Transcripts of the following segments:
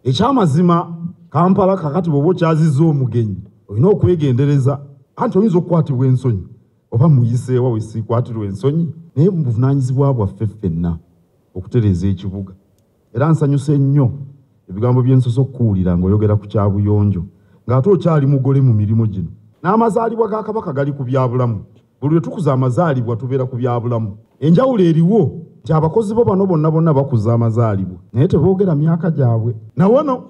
ekyamazima kampala kakati bwoba okyaziza omugenyi olina okwegendereza anti oyinza okukwatibwa ensonyi oba muyiseewa wesikwatirwa ensonyi naye mubuvunanyizibwa bwaffe ffenna okutereeza ekibuga era nsanyuse nnyo ebigambo byensosa okukuwulira ngaoyogera ku kyabuyonjo ng'ate okyali mugole mu mirimu gino n'amazaalibwa ga kabaka gali ku byabulamu buli lwe tukuza amazaalibwa tubeera ku byabulamu enjawulo eriwo nti abakozi bo bano bonna bonna bakuza amazaalibwa naye teboogera myaka gyabwe nawano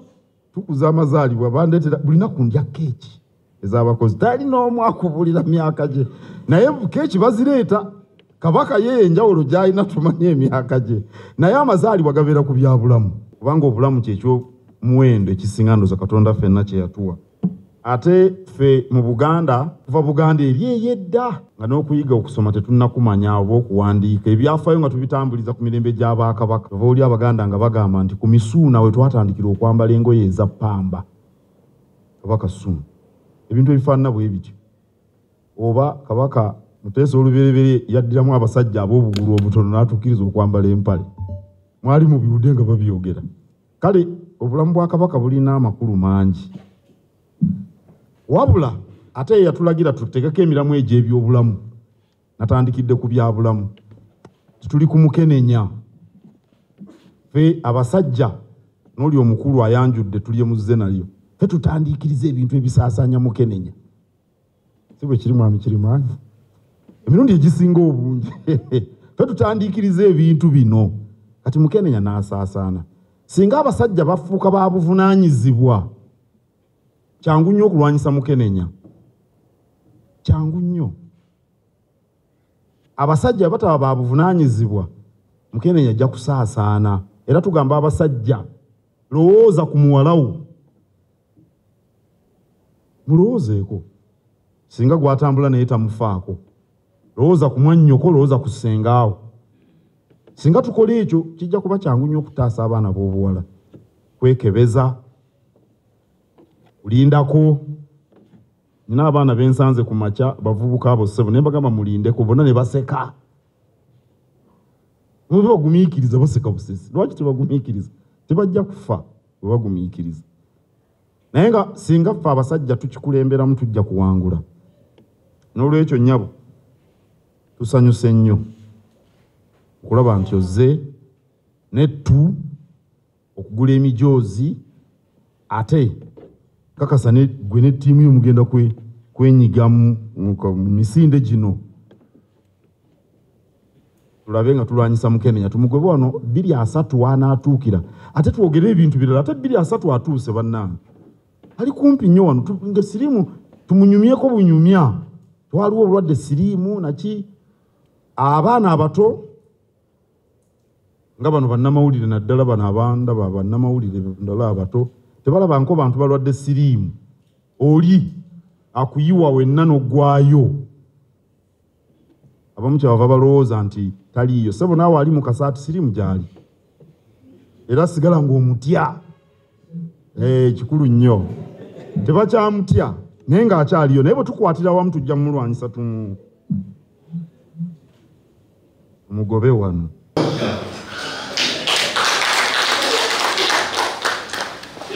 tukuza amazaalibwa bandeetera buli naku ndya keeki ez'abakozi tali n'omu akubulira myaka gye naye keeki bazireeta kabaka ye enjawulo gy'alina tumanye emyaka gye naye amazaalibwa gabeera ku byabulamu kubanga obulamu kyekyo muwendo ekisinga ndoza katonda fenna kyeyatuwa ate ffe mu buganda kuva buganda eri eyedda nga n'okuyiga okusoma tetunnakumanya oba okuwandiika ebyafayo nga tubitambuliza ku mirembe gy'abaakabaka ova oli abaganda nga bagamba nti ku misuuna we twatandikira okwambala engoye eza pamba oba kasuuna ebintu ebifaanana bwe bityo oba kabaka muteesa olubereberye yaddiramu abasajja ab'obugulu obutono n'atukkiriza okwambala empale mwali mu biwude nga babyogera kale obulamu bwa kabaka bulina amakulu mangi wabula ate yeyatulagira tutegeko emiramu egy'ebyobulamu natandikidde ku byabulamu tituli ku mukenenya fe abasajja n'oli omukulu ayanjudde tulye muzze nalyo fe tutandiikiriza ebintu ebisaasaanya mukenenya si bwe kiri mwami kirimaanyi emirundi egisinga obungi fe tutandiikiriza ebintu bino kati mukenenya n'asaasaana singa abasajja bafuuka ba buvunaanyizibwa kyangu nnyo okulwanyisa mukenenya kyangu nnyo abasajja bataba ba buvunaanyizibwa mukenenya ajja kusaasaana era tugamba abasajja lowooza ku muwalawo mulowoozeeko singa gwatambula naye tamufaako lowooza ku mwannyoko lowooza ku ssengaawo singa tukola ekyo kijja kuba kyangu nnyo okutaasa abaana b'obuwala kwekebeza kulindako nina abaana bensanze ku makya bavubuka abo ssebo naye bagamba mulindeko bona ne baseka mube bagumiikiriza baseka busesi lwaki tebagumiikiriza tebajja kufa bwe bagumiikiriza naye nga singa ffe abasajja tukikulemberamu tujja kuwangula n'olwekyo nyabo tusanyuse nnyo okulaba nti ozze nettu okugula emijoozi ate kakasa gwe ne ttiimu yo mugenda kwenyigamu mu misinde gino tulabe nga tulwanyisa mukenenya tumugobe wano bbiri asatu wanaatuukira ate twogere ebintu birala ate bbiri asatu atuuse bannange ali kumpi nnyo wano nga siriimu tumunyumyeko bunyumya twaliwo obulwadde siriimu naki abaana abato nga bano bannamawulire naddala bano abanda ba bannamawulire ndala abato tebalabanko bantu balwadde siriimu oli akuyiwa wenna n'oggwayo abamu kyebava balowooza nti taliiyo sebo naawe ali mu kasaati siriimu gyali era sigala ng'omutya eh, kikulu nnyo tebakyamutya naye ng'akyaliyo naye bwe tukwatira wamu tujja mumulwanyisa tumu mugobe wano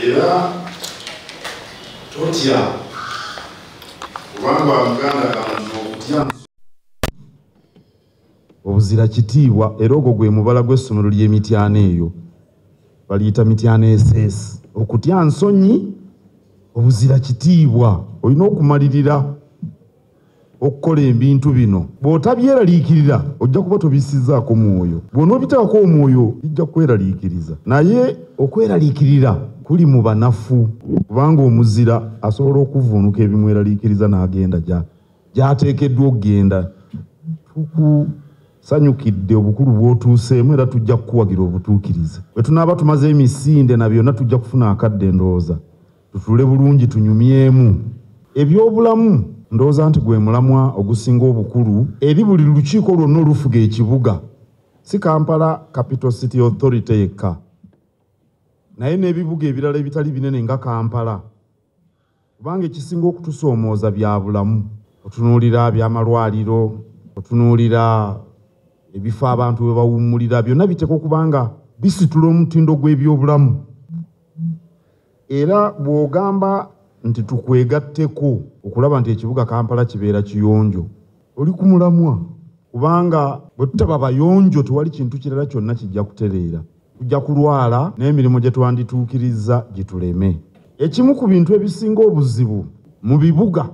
era totya kubanga muganda kantu okutya obuzira kitiibwa era ogwo gwe mubala gw'essomero ly'emityana eyo baliyita mityana eseesi okutya nsonyi obuzira kitiibwa olina okumalirira okukola ebintu bino bw'otabyeraliikirira ojja kuba tobisizaako mwoyo bw'onoobitaako omwoyo bijja kukweraliikiriza naye okweraliikirira kuli mu banafu kubanga omuzira asobola okuvuunuka ebimweraliikiriza n'agenda gy'ateekeddwa okugenda tukusanyukidde obukulu bw'otuuseemu era tujja kukuwagira obutuukirize bwe tunaaba tumaze emisinde na byonna tujja kufuna akadde endowooza tutuule bulungi tunyumyemu ebyobulamu ndowooza nti gwe mulamwa ogusinga obukulu eri buli lukiiko lwonna olufuga ekibuga si kampala capital city authority yekka naye n'ebibuga ebirala ebitali binene nga kampala kubanga ekisinga okutusoomooza bya bulamu otunuulira byamalwaliro otunuulira ebifo abantu bwe bawummulira byonna biteekwa okubanga bisitula omutindo gw'ebyobulamu Era bw'ogamba nti tukwegatteko okulaba nti ekibuga Kampala kibeera kiyonjo, oli ku mulamwa kubanga bwe tutaba bayonjo tewali kintu kirala kyonna kijja kutereera. Tujja kulwala n'emirimu gye twandituukirizza gituleme. Ekimu ku bintu ebisinga obuzibu mu bibuga.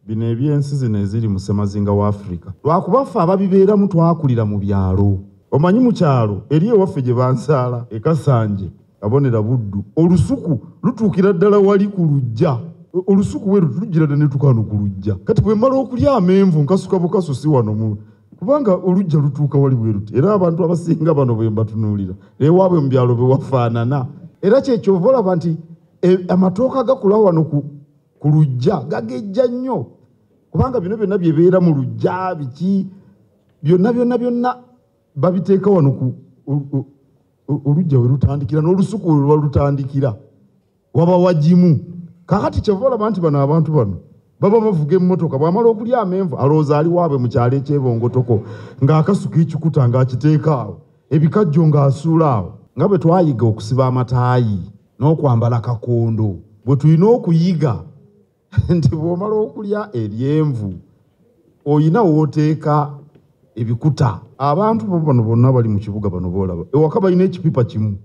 bino ebyensi zino eziri mu ssemazinga wa afirika lwakuba ffe ababibeeramu twakulira mu byalo omanyi mu kyalo eri ewaffe gye bansaala ekasanje abonera buddu olusuku lutuukira ddala wali ku lujja olusuku we lutujjira dda netukaano ku lujja kati bwe mmala okulya amenvu nkasuka bukaso si wano mu kubanga olujja lutuuka wali bwe luti era abantu abasinga bano bwe mbatunuulira ewaabwe mu byalo bewafaanana era kyekyovaolaba nti eh, amatooka gakula wano ku ku lujja gagejja nnyo kubanga bino byonna byebeera mu lujja biki byonna byonna byonna babiteeka wano ku olujja we lutandikira n'olusuku we luba lutandikira waba wagimu kakati kyeva olaba nti bano abantu bano baba bavuga emmotoka bwamala okulya amenvu alowooza ali waabwe mu kyalo ekyebongotoko ng'akasuka ekikuta ng'akiteeka awo ebikajjo ng'asuula awo nga bwe twayiga okusiba amataayi n'okwambala kakondo bwe tulina okuyiga nti bw'omala okulya eryenvu olina wooteeka ebikuta abantu bano bonna bali mu kibuga bano boolaba ewaka balina ekipipa kimu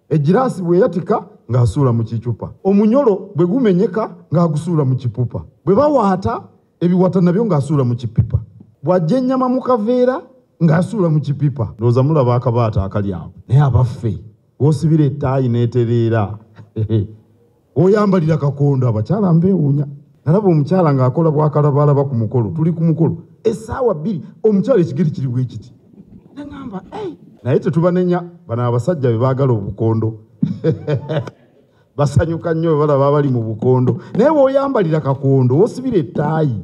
egiraasi bweyatika ng'asuula mu kicupa omunyolo bwe gumenyeka ng'agusuula mu kipupa bwe bawaata ebiwata nabyo ng'asuula mu kipipa bw'ajja ennyama mu kaveera ng'asuula mu kipipa ndowooza mulaba akabaata akali awo naye abaffe wosibira ettaayi n'etereera oyambalira kakondo abakyala mbeewuunya nalaba omukyala ng'akola bwakalabaalaba ku mukolo tuli ku mukolo essaawa bbiri omukyala ekigeri kiri bwe kiti nagamba naye tetubanenya bano abasajja be baagala obukondo basanyuka nnyo bwe balaba abali mu bukondo naye weoyambalira kakondo wosibira ettaayi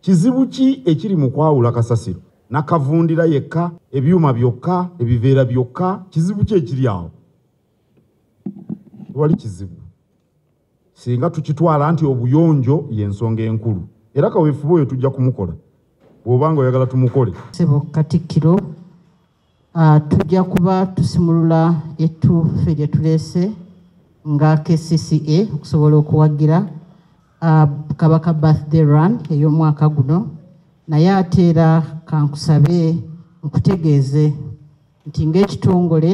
Kizibu ki ekiri mu kwawula kasasiro nakavundira yekka, ebyuma byokka, ebiveera byokka? Kizibu ki ekiri awo? Tewali kizibu singa tukitwala nti obuyonjo y'ensonga enkulu, era kaweefube oyo tujja kumukola bw'oba nga oyagala tumukole. Ssebo Katikkiro. Ah, tujja kuba tusimulula ettuufe lye tuleese nga kcca okusobola okuwagira ah, kabaka birthday run ey'omwaka guno naye ate era kankusabe nkutegeeze nti ng'ekitongole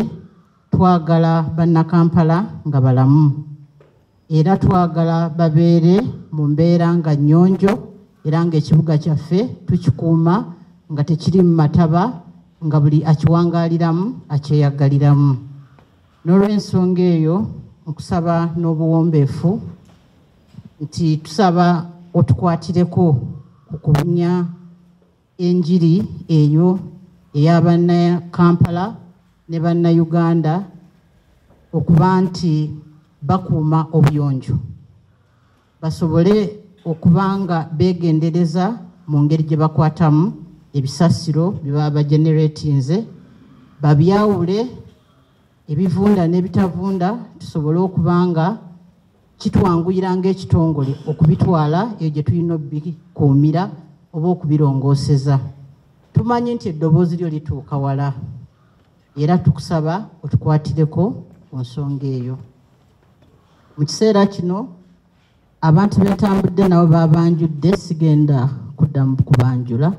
twagala bannakampala nga balamu era twagala babeere mu mbeera nga nnyonjo era ng'ekibuga kyaffe tukikuuma nga tekiri mu mataba nga buli akiwangaaliramu akyeyagaliramu n'olw'ensonga eyo nkusaba n'obuwombeefu nti tusaba otukwatireko ku kubunya Enjiri eyo eya banna Kampala ne banna Uganda okuba nti bakuuma obuyonjo basobole okuba nga beegendereza mu ngeri gye bakwatamu ebisasiro bye baba bageneratinze babyawule ebivunda n'ebitavunda tusobole okuba nga kitwanguyira ng'ekitongole okubitwala eyo gye tulina okubikuumira oba okubirongooseza tumanyi nti eddoboozi lyo lituuka wala era tukusaba otukwatireko ku nsonga eyo mu kiseera kino abantu betambudde nabo babanjudde sigenda kuddamu kubanjula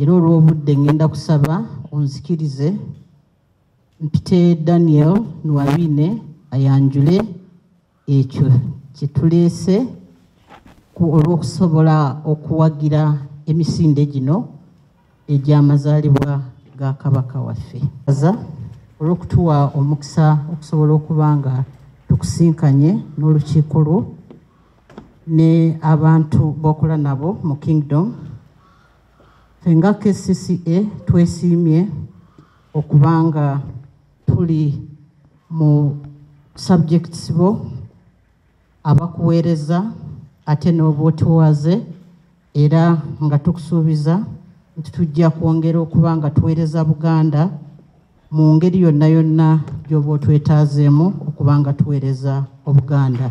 era olw'obudde ngenda kusaba onzikirize mpite daniel nuwabine ayanjule ekyo kyetuleese olw'okusobola okuwagira emisinde gino egy'amazaalibwa ga kabaka waffe aza olw'okutuwa omukisa okusobola okuba nga tukusinkanye n'olukiiko lwo ne abantu b'okola nabo mu kingdom Ffe nga KCCA twesiimye okuba nga tuli mu subjects bo abakuweereza ate n'obwotuwaze era nga tukusuubiza nti tujja kwongera okuba nga tuweereza Buganda mu ngeri yonna yonna gy'oba otwetaazeemu okuba nga tuweereza Obuganda.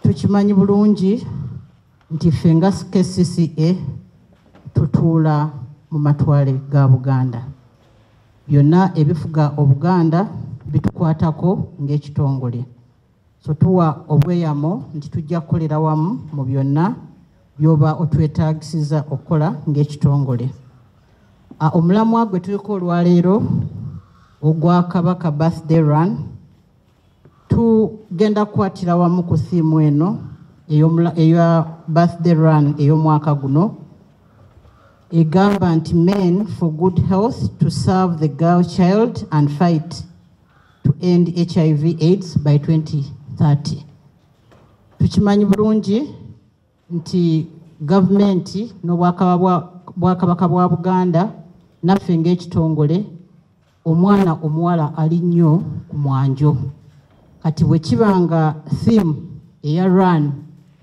Tukimanyi bulungi nti ffe nga kcca tutuula mu matwale ga buganda byonna ebifuga obuganda bitukwatako ng'ekitongole so tuwa obweyamo nti tujja kukolera wamu mu byonna byoba otwetagisiza okukola ng'ekitongole omulamwa gwe tuliko olwaleero ogwa kabaka birthday run tugenda kukwatira wamu ku siimu eno eya birthday run ey'omwaka guno egamba nti men for good health to serve the girl child and fight to end hiv aids by 2030 tukimanyi bulungi nti gavumenti n'obwakabaka bwa buganda naffe ng'ekitongole omwana omuwala ali nnyo ku mwanjo kati bwe kiba nga theme eya run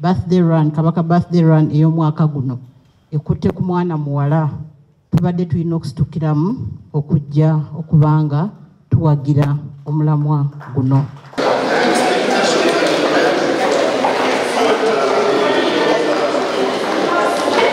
birthday run kabaka birthday run ey'omwaka guno ekutte ku mwana muwala tubadde tulina okusitukiramu okujja okubanga tuwagira omulamwa guno